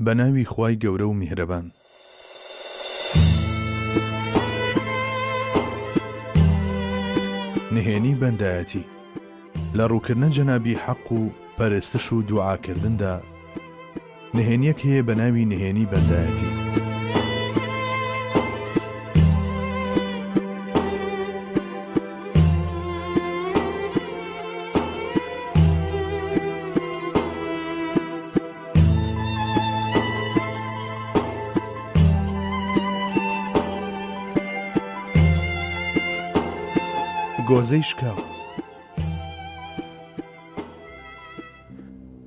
بە ناوی خوای گەورە و میهرەبان. نهێنی بەندایەتی لە ڕووکردنە جەنابی حەق و پەرستش و دوعاکردندا نهێنیەک هەیە بە ناوی نهێنی بەندایەتی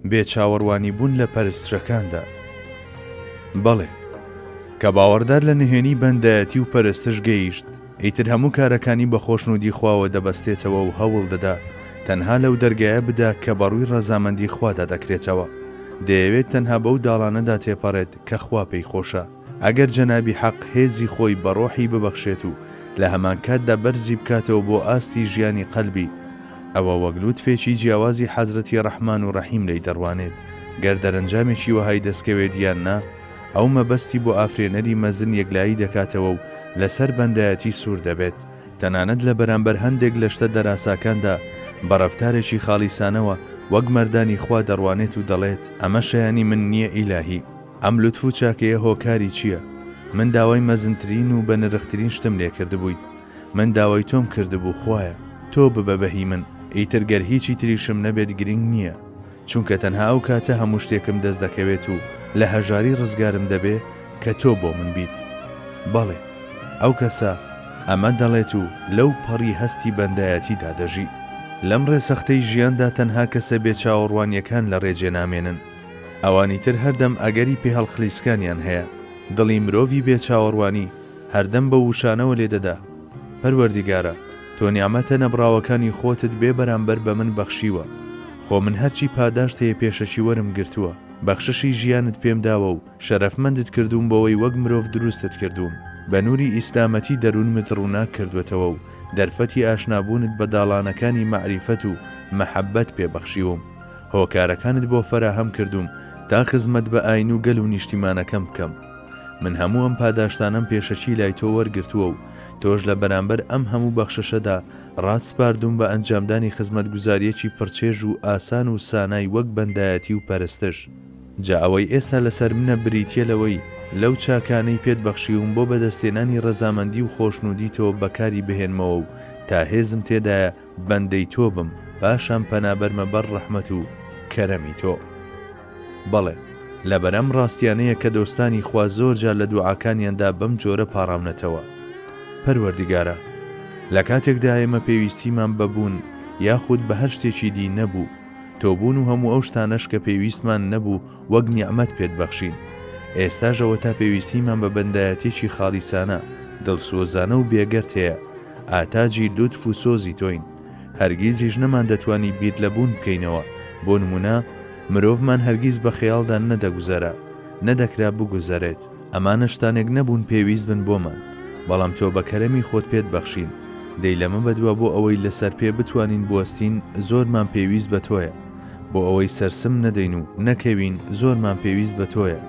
بێ چاوەڕوانی بوون لە پەرستشەکاندا بەڵێ کە باوەڕدار لە نهێنی بەندایەتی و پەرستش گەیشت ئیتر هەموو کارەکانی بە خۆشنوودی خواوە دەبەستێتەوە و هەوڵ دەدا تەنها لەو دەرگایە بدا کە بەڕووی ڕەزامەندی خوادا دەکرێتەوە، دەیەوێت تەنها بەو داڵانەدا تێپەڕێت کە خوا پێی خۆشە، ئەگەر جەنابی حەق هێزی خۆی بە ڕۆحی ببەخشێت و لە هەمانکاتدا بەرزی بکاتەوە بۆ ئاستی ژیانی قەلبی، ئەوە وەک لوتفێکی جیاوازی حەزرەتی ڕەحمان و ڕەحیم لێی دەڕوانێت، گەر دەرەنجامێکی وەهای دەستکەوێت یان نا، ئەو مەبەستی بۆ ئافرێنەری مەزن یەکلایی دەکاتەوە و لەسەر بەندایەتی سوور دەبێت، تەنانەت لە بەرامبەر هەندێک لە شتە دەراساکاندا بە ڕەفتارێکی خاڵیسانەوە وەک مەردانی خوا دەڕوانێت و دەڵێت، ئەمە شایانی من نییە ئیلاهی، ئەم لوتف و چاکەیە هۆکاری چییە؟ من داوای مەزنترین و بەنرخترین شتم لێ کردبوویت، من داوای تۆم کردبوو، خوایە، تۆ ببە بە هی من، ئیتر گەر هیچی تریشم نەبێت گرینگ نییە. چونکە تەنها ئەو کاتە هەموو شتێکم دەست دەکەوێت و لە هەژاری ڕزگارم دەبێ کە تۆ بۆ من بیت. بەڵێ، ئەو کەسە ئەمە دەڵێت و لەو پەڕی هەستی بەندایەتیدا دەژی. لەم ڕێ سەختەی ژیاندا تەنها کەسە بێ چاوەڕوانییەکان لە ڕێ جێ نامێنن. ئەوانی تر هەردەم ئەگەری پێهەڵخلیسکانیان هەیە. دڵی مرۆڤی بێ چاوەڕوانی هەردەم بەو وشانەوە لێ دەدا، پەروەردیگارە! تۆ نیعمەتە نەبڕاوەکانی خۆتت بێ بەرامبەر بە من بەخشیوە، خۆ من هەرچی پاداشت هەیە پێشەکی وەرم گرتووە، بەخششی ژیانت پێم داوە و شەرەفمەندت کردووم بەوەی وەک مرۆڤ دروستت کردووم، بە نووری ئیسلامەتی دەروونمت ڕووناک کردووەتەوە و دەرفەتی ئاشنابوونت بە داڵانەکانی مەعریفەت و مەحەببەت پێ بەخشیوم، هۆکارەکانت بۆ فەراهەم کردووم تا خزمەت بە ئاین و گەل و نیشتیمانەکەم بکەم، من هەموو ئەم پاداشتانەم پێشەکی لای تۆ وەرگرتووە و تۆش لە بەرامبەر ئەم هەموو بەخششەدا ڕات سپاردووم بە ئەنجامدانی خزمەتگوزاریەکی پڕچێژ و ئاسان و سانای وەک بەندایەتی و پەرستش جا ئەوەی ئێستا لەسەر منە بریتیە لەوەی لەو چاکانەی پێت بەخشیوم بۆ بەدەستهێنانی ڕەزامەندی و خۆشنودی تۆ بەکاری بهێنمەوە و تا هێزم تێدایە بەندەی تۆ بم پاشان پەنابەرمە بەر ڕەحمەت و کەرەمی تۆ. بەڵێ، لەبەر ئەم ڕاستیانەیە کە دۆستانی خوا زۆر جار لە دوعاکانیاندا بەم جۆرە پاڕاونەتەوە، پەروەردگارا! لە کاتێکدا ئێمە پێویستیمان بە بوون یاخود بە هەر شتێکی دی نەبوو، تۆ بوون و هەموو ئەو شتانەش کە پێویستمان نەبوو وەک نیعمەت پێت بەخشین، ئێستاش ئەوەتا پێویستیمان بە بەندایەتیەکی خاڵیسانە، دڵسۆزانە و بێگەرتەیە، ئاتاجی لوتف و سۆزی تۆین. هەرگیزیش نەماندەتوانی بیر لە بوون بکەینەوە، بۆ نموونە، مرۆڤمان هەرگیز بە خەیاڵدا نەدەگوزەرا، نەدەکرا بگوزەرێت. ئەمانە شتانێک نەبوون پێویست بن بۆمان، بەڵام تۆ بە کەرەمی خۆت پێت بەخشین. دەی لەمە بەدوا بۆ ئەوەی لەسەر پێ بتوانین بوەستین زۆرمان پێویست بە تۆیە. بۆ ئەوەی سەرسم نەدەین و نەکەوین زۆرمان پێویست بە تۆیە.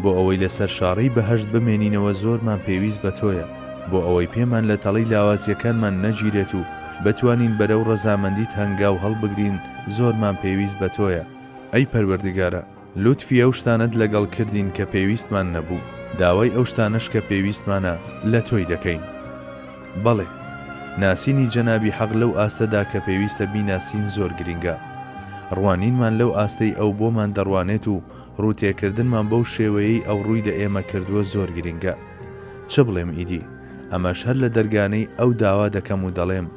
بۆ ئەوەی لەسەر شاڕێی بەهەشت بمێنینەوە زۆرمان پێویست بە تۆیە، بۆ ئەوەی پێمان لە تەڵەی لاوازیەکانمان نەگیرێت و بتوانین بەرەو ڕەزامەندیت هەنگاو هەڵبگرین زۆرمان پێویست بە تۆیە، ئەی پەروەردگارا لوتفی ئەو شتانەت لەگەڵ کردین کە پێویستمان نەبوو، داوای ئەو شتانەش کە پێویستمانە لە تۆی دەکەین. بەڵێ ناسینی جەنابی حەق لەو ئاستەدا کە پێویستە بیناسین زۆر گرینگە. ڕوانینمان لەو ئاستەی ئەو بۆمان دەڕوانێت و ڕوو تێکردنمان بەو شێوەیەی ئەو ڕووی لە ئێمە کردووە زۆر گرینگە. چ بڵێم ئیدی؟ ئەمەش هەر لە دەرگانەی ئەو داوا دەکەم و دەڵێم،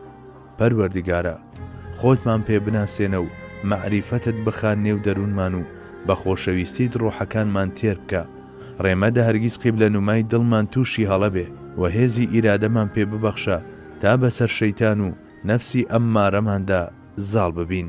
پەروەردگارا! خۆتمان پێ بناسێنە و مەعریفەتت بخە نێو دەروونمان و بە خۆشەویستیت ڕۆحەکانمان تێر بکە، ڕێ مەدە هەرگیز قیبلە نومای دڵمان تووشی هەڵە بێ و هێزی ئیرادەمان پێ ببەخشە تا بەسەر شەیتان و نەفسی ئەممارەماندا زاڵ ببین.